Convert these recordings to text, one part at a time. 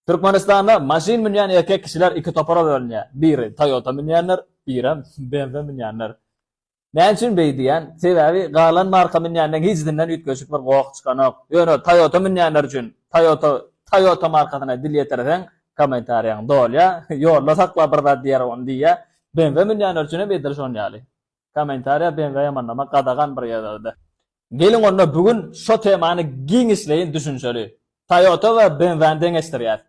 Türkmenistanda maşyn münýän erkek kişiler iki topara bölünýär. Biri, Toyota münýänler, birem, BMW münýänler. Näme üçin beý diýýän? Sebäbi galan marka münýänden hijdinden üýtgeşik bir goh çykanok. Ýöne Toyota münýänler üçin, Toyota, Toyota markasyna dil ýetirseň, kommentariýaň dolýa, ýolda sakla bir zat diýer ony diýýä. BMW münýänler üçin hem edil şon ýaly. Kommentariýa BMW-ýa manlamak gadagan bir ýerde-de. Geliň onda bu gün şo temany giňişleýin düşünişeli. Toyota we BMW-ni deňeşdirýäs.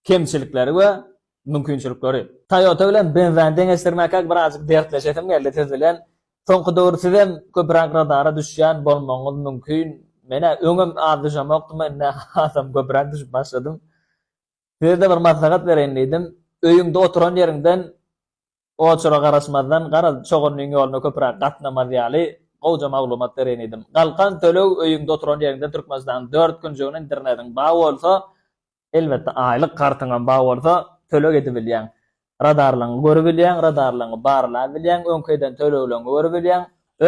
Kemçilikleri we mümkinçilikleri. Toyota bilen BMW-ni deňeşdirmäkä birazjyk dertleşesim geldi siz bilen. Soňky döwür sizem köpüräk radara düşýän bolmagyňyz mümkin. Men-ä öňem az düşemokdym, indi hasam köpüräk düşüp başladym. Size-de bir maslahat bereýin diýdim. Öýüňde oturan ýeriňden Oçura garaşmazdan, garaz, çogunyň ýoluna köpüräk gatnamaz ýaly, gowja maglumat bereýin diýdim. Galkan töleg öýüňde oturan ýeriňden Türkmenistanyň dört künjeginiň internetyň bar bolsa, elbetde, aýlyk kartyňam bar bolsa, töleg edibilýäň. Radarlaryňy görübilýäň, radarlaryňy barlabilýäň, öňki eden tölegleriňi görübilýäň.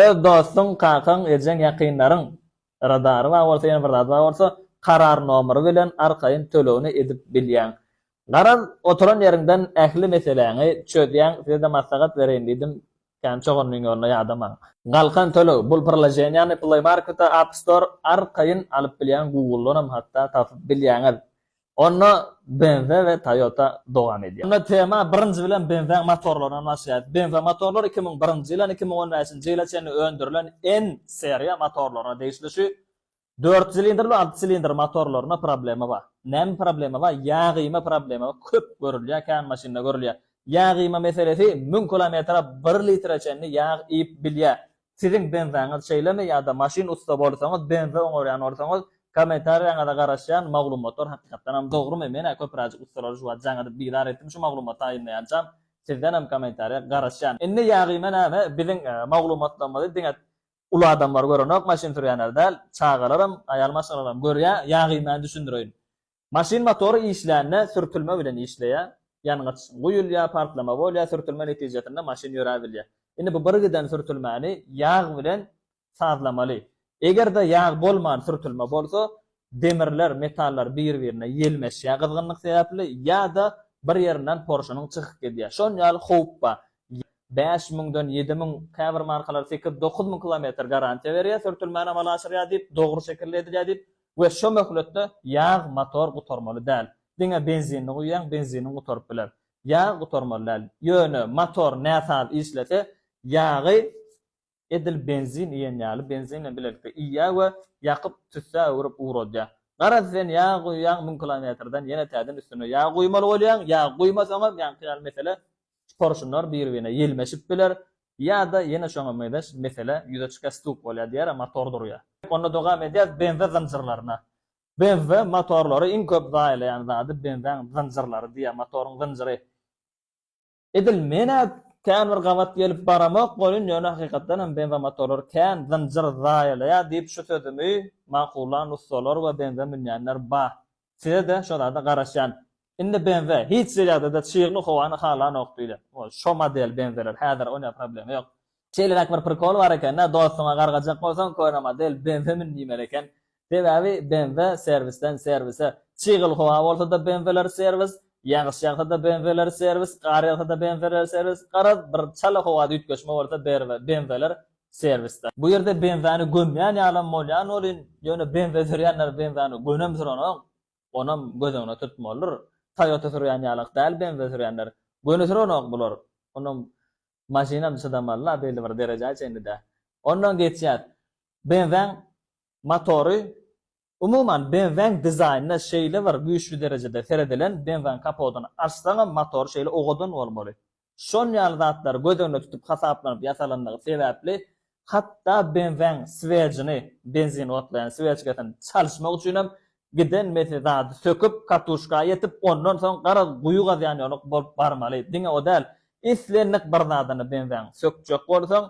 Öz dostuň, kakaň, ejeň, ýakynlaryň radary bar bolsa ýene bir zady bar bolsa karar nomry bilen arkaýyn tölegini edip bilýäň. Garaz oturan ýeriňden ähli meseläňi çözýäň sizede maslahat bereýin diýdim kän çoganlyň ýoluna ýadamaň. Galkan töleg bul priloženiýany play marketa app store arkaýyn alyp bilýäň guguldanam hatda tapyp bilýäňiz. Onda BMW we Toyota dowam edýär. Onda tema birinji bilen BMW-iň motorlaryndan başlaýar. BMW motorlary iki müň birinji ýylan iki müň on bäşinji ýyla çenli öndürilen N seriýa motorlaryna degişli. Şu dört silindr we alty silindr motorlarynda problema bar. Näme problema bar? Ýa gyýma problema köp görülýär, kän maşynda görülýär. Ýa gyýma meselesi müň kilometre bir litre çenli ýag iýip bilýär. Siziň benzaňyz şeýlemi ýa-da maşyn ussa bolsaňyz benza oňarýan bolsaňyz kommentariýaňyza garaşýan maglumatlar hakykatdanam dogrymy menä köpüräjik ussalary şu wagt jaňyryp bizar etdim şu maglumaty aýynlaýançam sizdenem kommentariýa garaşýan indi ýagyma näme biziň maglumatlarymyzy diňe uly adamlar görenok maşyn sürýänler däl çagalaram aýal maşgalalarym görýä ýagyma düşündireýin Maşyn motory işlände sürtülme bilen işleýär. Ýangyç guýulýar, partlama bolýar, sürtülme netijesinde maşyn ýöräbilýär. Indi bu birgiden sürtülmäni ýag bilen sazlamaly. Eger-de ýag bolman sürtülme bolsa, demirler, metallar bir-birine ýelmeşýär gyzgynlyk sebäpli ýa-da bir ýerinden porşunyň çykyp gidýär. Şon ýaly howp bar. Ýag bäş müňden ýedi müň, käbir markalar sekiz, dokuz müň kilometr garantiýa berýär, sürtülmäni amala aşyrýar diýip, dogry şekilde edilýär diýip, We şo möhletde ýag motor gutarmaly däl. Diňe benzinini guýýaň, benziniň gutaryp biler. Ýag gutarmaly däl. Ýöne motor näsaz işlese, ýagy edil benzin iýen ýaly, benzin bilen bilelikde iýýär we ýakyp, tüssä öwrüp ugradýar. Garaz, sen ýag guýýaň, müň kilometrden ýene täzeden üstüne ýag guýmaly bolýaň. Ýag guýmasaňam, ýaňky ýaly mesele Porşunlar bir-birine ýelmeşip biler, ýa-da ýene şoňa mezeş mesele ýüze çykýar, stuk bolýar diýýär, motor durýar. Onda dogam edýäs benza zynjyrlaryna. Benza motorlary iň köp zaýalaýan zady benzaň zynjyrlary diýýär, motoryň zynjyry. Edil men-ä kän bir gabat gelip baramok welin, ýöne hakykatdan hem benza motorlary kän zynjyr zaýalaýar diýip şu sözümi makullan ussalar we benza münýänler bar. Size-de şo zada garaşýan. Indi benze hiç derejede çygly howany halanok diýle. Şo model benzeler häzir onýa problema ýok. Şeýleräk bir prikol bar ekende dostuňa gargajak bolsaň köne model benze mün diýmeli eken. Sebäbi benze serwisden serwise. Çygly howa bolsada benzeler serwis, ýagyş ýagsada benzeler serwis, gar ýagsada benzeler serwis, garaz bir çala howada üýtgeşme bolsa benzeler serwisde. Bu ýerde benzeni gömýän ýalam bolýan welin, ýöne benze sürýänler benzeni gönemsiranok. onam göz öňüne tutmalydyr. Toyota sürýän ýalak däl benza sürýänler. Göni sürenok bular. Onam maşynam çydamaly-la belli bir derejä çenli-dä. Ondan geçýäs. Benzaň motory, umuman benzaň dizaýnyna şeýle bir güýçli derejede seredilen, benzaň kapodyny açsaňam motory şeýle owadan bolmaly. şon ýaly zatlar göz öňünde tutup hasaplanyp ýasalandygy sebäpli, hatda benzeň swejini, benzin otlaýan swejkasini, çalyşmak üçinem giden mese zady söküp, katuşka ýetip, ondan soň garaz guýy gazýan ýolyk bolup barmaly. Diňe o däl, islendik bir zadyny benzeň sökjek bolsaň,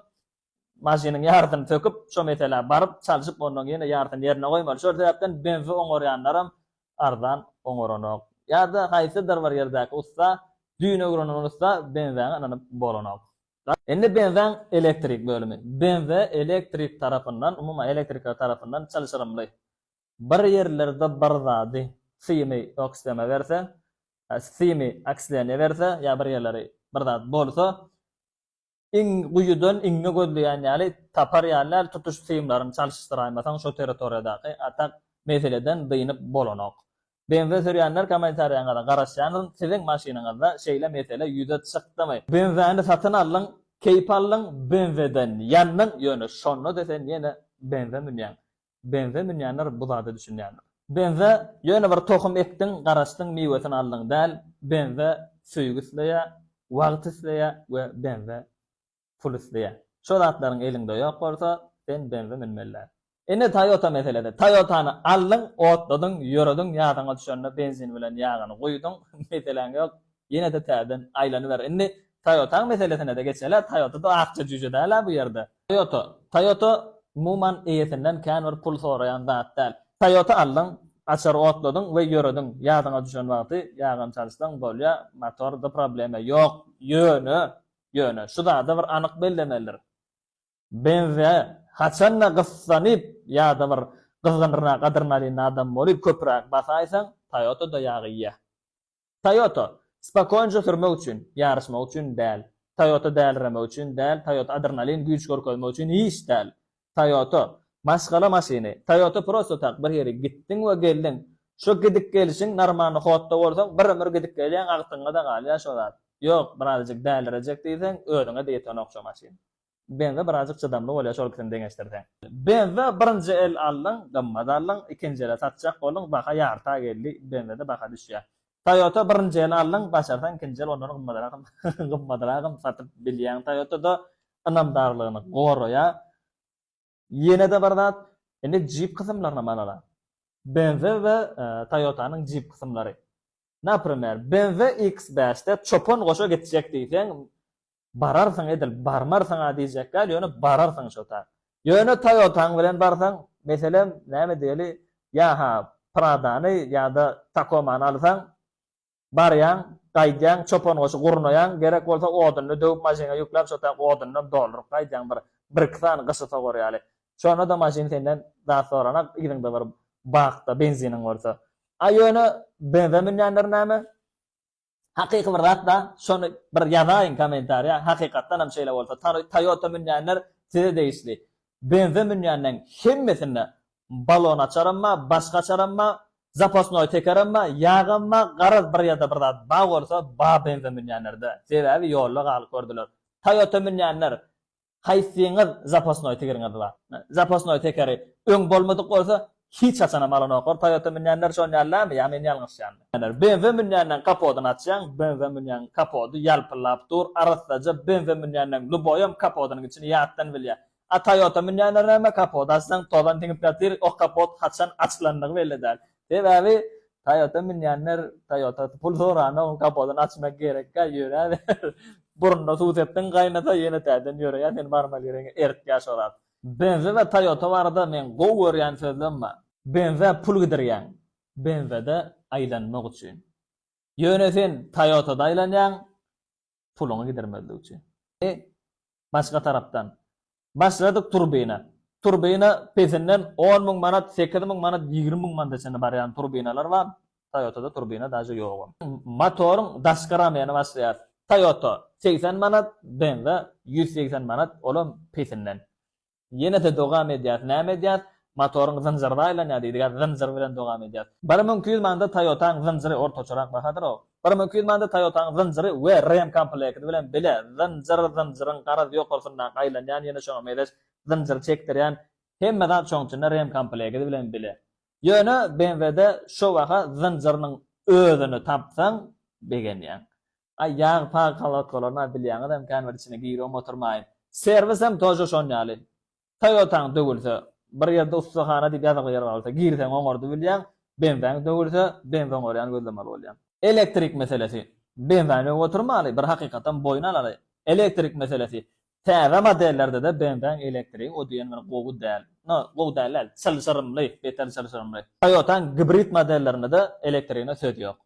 maşynyň ýarysyny söküp, şo meselä baryp, çalşyp, onnoň ýene ýarysyny ýerine goýmaly. Şol sebäpden benzi oňarýanlaram arzan oňaranok. Ýa-da haýsydyr bir ýerdäki ussa, düýn öwrenen ussa benzäňe ynanyp bolanok. Indi benzäň elektrik bölümi. Benze elektrik tarapyndan, umuman elektrikler tarapyndan çylşyrymly. Bir ýerlerde bir zady, simi oksdeme berse, simi oksleniýe berse, ýa bir ýerleri bir zat bolsa, iň guýudan iňňe gözleýän ýaly tapar ýaly däl, tutuş simlaryňy çalyşdyraýmasaň şo territoriýadaky atak meseleden dynyp bolanok. Benze sürýänler kommentariýaňyza garaşýanyn, siziň maşynyňyzda şeýle mesele ýüze çykdymy? Benzeni satyn aldyň, keýp aldyň, benzeden ýandyň, ýöne şonda-da sen ýene benze münýäň. Benze münýänler bu zada düşünýändir. Benze ýöne bir tohum ekdiň, garaşdyň, miwesini aldyň däl, benze söýgi isleýä, wagt isleýä we benze pul isleýä. Şo zatlaryň eliňde ýok bolsa, sen benze münmeli däl. Indi Toyota meselesi. Toyotany aldyň, otladyň, ýörediň, ýadyňa düşende benzin bilen ýagyny guýduň, meseläň ýok, Ýene-de täzeden aýlanyber. Indi Toyota-nyň meselesine-de geçeli. Toyota-da akja jüýje däl-ä bu ýerde. Toyota. Toyota, umuman, eýesinden kän bir pul soraýan zat däl. Toyota aldyň, açary otladyň we ýörediň. Ýadyňa düşen wagty ýagyny çalyşsaň, bolýar, motorda problema ýok. Ýöne, ýöne, şu zady bir anyk bellemelidir. Benze haçan-da gyssanyp ýa-da bir gyzgynryna gadyrnalyna adam bolup, köpräk basaýsaň, Toyota-da ýag iýýär. Toyota, spokoýnja sürmek üçin, ýaryşmak üçin däl. Toyota däliremek üçin däl, Toyota adrenalin, güýç görkezmek üçin hiç däl. Toyota, maşgala maşyny, Toyota prosto tak bir ýere gitdiň we geldiň. Şo gidip gelişiň normalny hotda bolsaň bir ömür gidip gelýäň agtygyňada galýar şo zat. Ýok, birazajyk dälirejek diýseň özüňe-de ýetenok şo maşyn. Benza birazjyk çydamly bolýar şol ikisini deňeşdirseň. Benza birinji el aldyň, gymmat aldyň, ikinji ele satjak bolduň, baha ýarta geldi, benzada baha düşýär. Toyota birinji el aldyň, başarsaň ikinji el ondan gymmadragam gymmadragam satyp bilýäň. Toyota-da ynamdarlygyny goraýar. Ýene-de bir zat, indi Jeep kysymlaryna manalar. BMW we Toyota-nyň Jeep kysymlary. Naprimer, BMW X5-de çopan goşa gitjek diýseň, bararsyň edil, barmarsyň-a diýjek däl, ýöne bararsyň şotaýy. Ýöne Toyota-ň bilen barsaň, meselem, näme diýeli, ýa-ha Prada-ny ýa-da Tacoma-ny alsaň, Barýaň, gaýdýaň, çopangoçy gurnaýaň, gerek bolsa oduny döwüp maşynyňa ýükläp şo taýak odundan dolduryp gaýdýaň bir, birki sany gyşy sogar ýaly. Şonda-da maşyn senden zat soranak, yzyňda bir bak-da, benziniň bolsa. A ýöne benze münýänler näme? Hakyky bir zat-da, şony bir ýazaýyň kommentariýa, hakykatdanam şeýle bolsa, Toyota münýänler size degişli. Benze münýänleň hemmesinde Balon açaram bar, başga açaram bar, zapasnoý tekerem bar, ýagam bar, garaz bir ýerde bir zat bar bolsa bar benze münýänlerde, sebäbi ýolda galyp gördüler. Toýota münýänler haýsyňyz zapasnoý tigiriňiz bar? Zapasnoý tekeri öň bolmadyk bolsa hiç haçanam alanoklar, toýota münýänler şon ýalydarmy ýa men ýalňyşýanmy? Benze münýänden kapodyny açýaň, benze münýäň kapody ýalpyllap dur, arassaja, benze münýänden luboýam kapodynyň içini ýatdan bilýär. A Toyota münýänler näme kapot açsaň tozan siňip ýatyr o kapot haçan açylandygy belli däl sebäbi Toyota münýänler Toyota pul soranok kapodyny açmak gerekkä ýöräber burunda suw sepdiň gaýnasa ýene täzeden ýöreýär seni barmal ýeriňe eritýär şorap. Benze we Toyota barada meň gowy görýän sözlem bar. Benzä pul gidirýäň benzede aýlanmak üçin. Ýöne sen Toyotada aýlanýaň puluňy gidirmezlik üçin. E, başga tarapdan, başladyk turbina. Turbina pesinden on müň manat, sekiz müň manat, ýigrimi müň manada çenli barýan turbinalar bar. Toyota-da turbina daže ýogam. Motoryň daşky ramyny başlaýar. Toyota, segsen manat, BMW, ýüz segsen manat, olam pesinden. Ýene-de dogam edýäs. Näme edýäs? Motoryň zynjyryna aýlanýar diýdiga, zynjyr bilen dogam edýäs. Bir müň iki ýüz manada Toýotaň zynjyry ortaçarak bahadyr-ow. Bir müň iki ýüz manada Toýotaň zynjyry we ren komplekti bilen bile zynjyr, zynjyryň garaz ýokarsyndaky aýlanýan ýene şoňa mezeş zynjyry çekdirýän hemme zat şoň içinde ren komplekti bilen bile. Ýöne BMW-de şo baha zynjyrynyň özüni tapsaň begenýäň. Aý ýag pagy kolodkalaryna bilýäňizem kän bir içine giribem oturmaýyn. Serwis hem tože şon ýaly. Toýotaň döwülse, bir ýerde ussahana diýip ýazykly ýer bar bolsa girseň oňardy bilýäň, benzaň döwülse benz oňarýany gözlemeli bolýaň. Elektrik meselesi. Benzaň döwüp oturmaly, bir hakykatam boýun alaly. Elektrik meselesi. Täze modellerdede benzaň elektrigi o diýen bir gowy däl. No, gowy däl däl, çylşyrymly, beter çylşyrymly. Toýotaň gibrid modellerindede elektrigine söz ýok.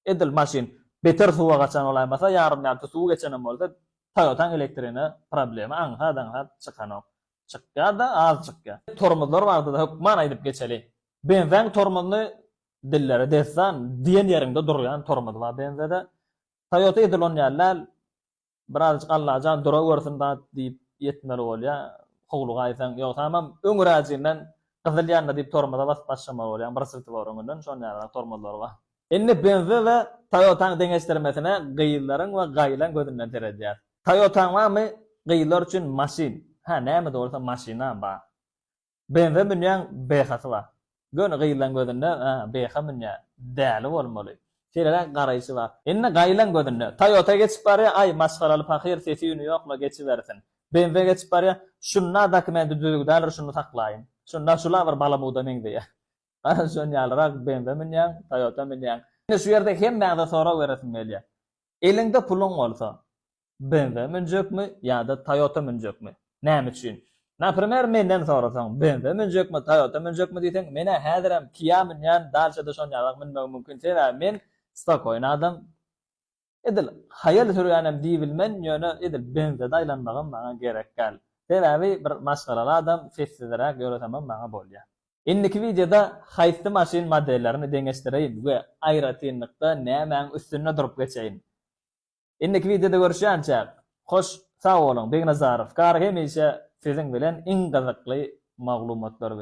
Edil maşyn beter suwa gaçan bolaýmasa, ýarym-ýarty suw geçenem bolsa, Toyota-nyň elektrine problema aňsat-aňsat çykanok. Çykýar-da, az çykýar. Tormozlar barada-da hökman aýdyp geçeli. Benzäň tormozyny dilleri dessan, diýen ýeriňde durýan tormoz bar benzede. Toyota edil onýaly däl. Birazjyk Allajan durawersin dat diýip ýetmeli bolýa, howluga aýsaň, ýogsamam öňüräjinden gyzyl ýandy diýip tormoza basyp başlamaly bolýaň, bir sirti bar öňünden, şonuň ýalyrak tormozlary bar. Indi BMW we Toyota-nyň deňeşdirmesine gyzlaryň we gaýylaň gözünden seredýäs. Toyota-ň barmy gyzlar üçin maşyn? Hä, nämede bolsa maşynam bar. Benze münýäň behasy bar. Göni gyzlaň gözünde beha münýä, däli bolmaly. Seýleräk garaýşy bar. Indi gaýylaň gözünde. Toyota geçip barýa, aý masgaraly pahyr sesi-üni ýokla geçibersin. Benze geçip barýa, şunda dokumenti düzügi däldir şuny saklaýyn. Şunda şula bir balamuda meňzeýä. Gara şon ýalyrak benze münýäň, toyota münýäň. Indi şu ýerde hemmäňze sorag beresim gelýä. Eliňde puluň bolsa, BMW münjekmi ýa-da Toyota münjekmi? Näme üçin? Naprimer menden sorasaň, BMW münjekmi, Toyota münjekmi diýseň, men-ä häzirem Kia münýän, Dacia-da şonýalak münmegim mümkin, sebäbi men spokoýny adam. Edil haýal sürýänem diýibilmen, ýöne edil BMW-de aýlanmagam maňa gerek däl. Sebäbi bir maşgalaly adam, sessizräk ýöresemem maňa bolýar. Indiki wideoda haýsy maşyn modellerini deňeşdireýin we aýratynlykda nämäň üstünde durup geçeýin? Indiki wideoda görüşýänçäk hoş sag boluň Begnazarow gar hemişe siziň bilen iň gyzykly maglumatlar bilen.